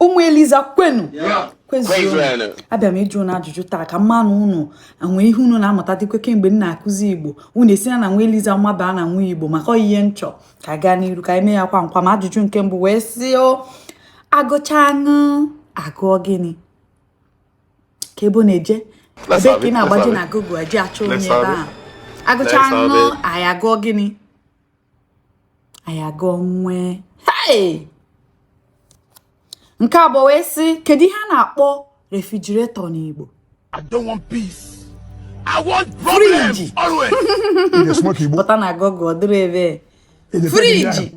ụmụ eliza kwenu kwezienụ abịa m ịjụ unu ajụjụ taa ka m manụ unu nwee ihe unu na-amụta dịkwa kemgbe m na-akụzi igbo unu esi na nwa eliza mabaa na nwa igbo maka ọ ihe m chọ ka gaa n'iru ka e mee ya kwam kwam ajụjụ nke mbụ wee sị o agụchaa ṅ agụọ gịnị ka ebe na-eje ebe ka ị na-agbaje na Google eje achọ onye ebe a agụchaa ṅ anyị agụọ gịnị anyị agụọ nw nke abụọ wee sị kedu ihe a na-akpọ refrigerator n'Igbo I don't want peace. I want problems always. pụta na Google ọ dịrị ebe fridge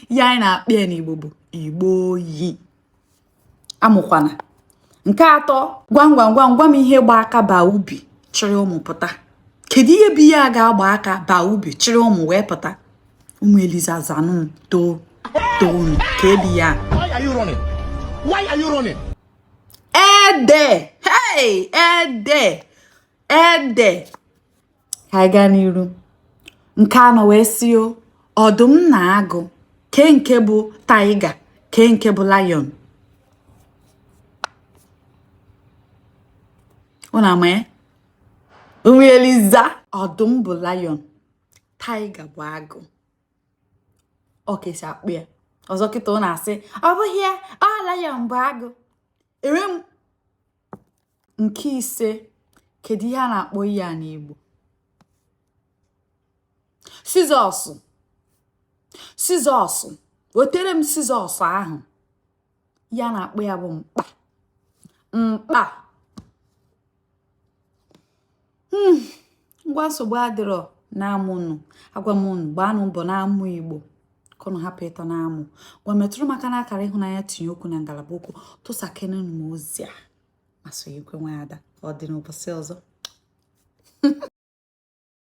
ihe anyị na-akpọ ya n'Igbo bụ igbe oyi amụkwana nke atọ gwam gwam gwam gwam ihe gba aka baa ubi chịrị ụmụ pụta kedu ihe bụ ihe a ga-agba aka baa ubi chịrị ụmụ wee pụta ụmụ eliza zanụ too too ka ebi ya ede hey ede ede ka anyị gaa n'iru nke anọ wee sị o ọdụm na agụ kee nke bụ tiger kee nke bụ lion unu ama ya ụmụ eliza ọdụm bụ lion tiger bụ agụ ọ ka e si akpọ ya ọzọ kịta ọ na-asị ọ bụghị ya ọ lion bụ agụ enwe m nke ise kedu ihe a na-akpọ ihe a n'Igbo scissors scissors wetere m scissors ahụ ihe a na-akpọ ya bụ mkpa mkpa hmm, ngwa nsogbu adịrọ na-amụnụ agwa m unu gbaanụ mbọ na-amụ igbo ka unu hapụ ịtọ na-amụ ngwa metụrụ m aka na akara ịhụnanya tinye okwu na ngalaba okwu tụsakene m ozi a mazị ekwe nwa ada ọ dị n'ụbọsị ọzọ